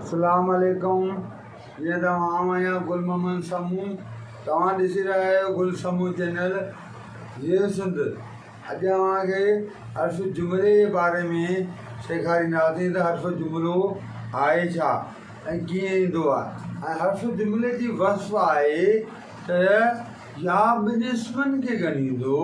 اسلام عليڪم جيئن ته آئون آهيان گل محمد سمون توهان ڏسي رهيا آهيو گل سمون چينل جيو سنڌ اڄ اوهان کي حرف جملي جي باري ۾ سيکارينداسين ته حرف جملو آهي ڇا ۽ ڪيئن ايندو آهي ۽ حرف جملي جي وصف آهي ته يا ٻن اسمن کي ڳنڍيندو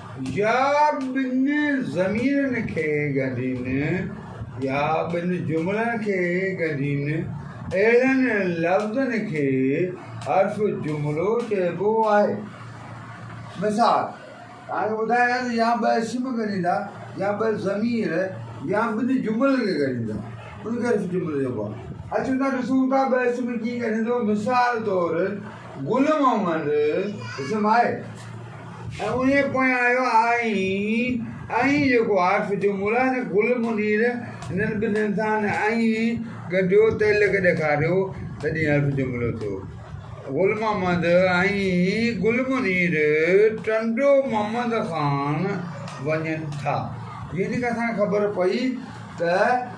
يا ٻن ضميرن کي ڳنڍين يا ٻن جملن کي ڳنڍين، اهڙن لفظن کي حرف جملو چئبو آهي. مثال، توهان کي ٻڌايان ته يا ٻه اسم ڳنڍيندا يا ٻه ضمير يا ٻن جملن کي ڳنڍيندا ان کي حرف جملو چئبو آهي. اچو ته ڏسون ته ٻه اسم ڪيئن ڳنڍيندو، مثال طور. گل محمد اسم آهي ۽ انهيء پويان آيو آهين ۽ جيڪو عارف جو مولا هن گل منير هنن ٻنهين سان ائين گنڍيو تعلق ڏيکاريو تڏهين عارف جو ملو ٿيو گل محمد ۽ گل منير ٽنڊو محمد خان وڃن ٿا يعني ڪا اسان کي خبر پئي ته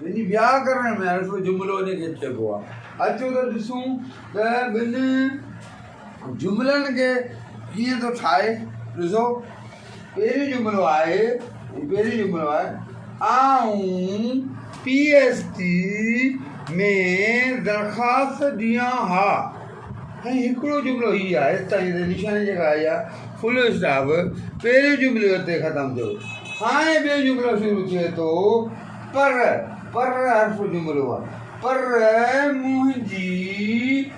ٻنهي وياڪرڻ ۾ حرف جملو ان کي چئبو آهي اچو ته ڏسون ته ٻن جملن کي ڪيئن ٿو ٺاهي ڏسو پهريون جملو آهي، پهريون جملو آهي، آئون پي ايس ٽي ۾ درخواست ڏيان ها ۽ هڪڙو جملو هي آهي تائين تي نشاني جيڪا آئي آهي فل اسٽاپ پهريون جملي اتي ختم ٿيو هاڻي ٻيو جملو شروع ٿئي ٿو پر پر حرف جملو آهي پر منهنجي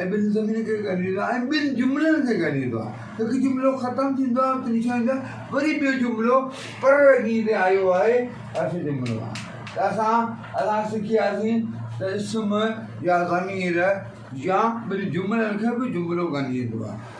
۽ ٻن ضميرن کي ڳنڍيندو آهي ۽ ٻن جملن کي ڳنڍيندو آهي هڪ جملو ختم ٿيندو آهي اتي لکيو ويندو آهي وري ٻيو جملو پر رڳي ۾ آيو آهي اهو جملو آهي ته اسان اسان سکياسين ته اسم يا ضمير يا ٻن جملن کي به جملو ڳنڍيندو آهي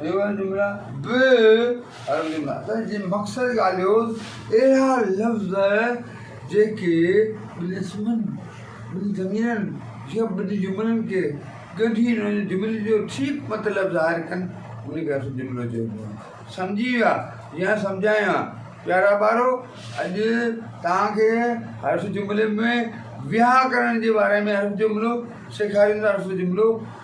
اهڙا جملا به عربيء ۾ اثر جي مخصر ڳالهيون اهڙا لفظ جيڪي ٻن اسمن، ٻن ضميرن يا ٻن جملن کي ڳنڍي ان جملي جو ٺيڪ مطلب ظاهر ڪن انهن کي اصل جملو چئبو آهي. سمجهي ويا يا سمجهايان ها پيارا ٻارو اڄ توهان کي حرف جملي ۾ ويهاڪرڻ جي باري ۾ حرف جملو سيکارينداسون جملو.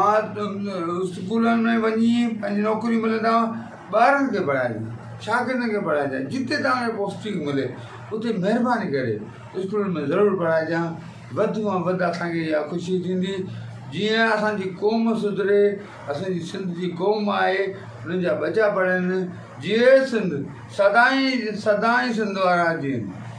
آء اسڪولن ۾ وڃي پنهنجي نوڪري ملندا ٻارن کي پڙهائجي شاگردن کي پڙهائجي جتي تان کي پوسٽنگ ملي اتي مهرباني ڪري اسڪولن ۾ ضرور پڙهائجي ها وڌ مان وڌ اسانکي اها خوشي ٿيندي جيئن اسانجي قوم سڌري اسانجي سنڌ جي قوم آهي انهن جا ٻچا پڙهن جيئي سنڌ سدائين سدائين سنڌ وارا جيئن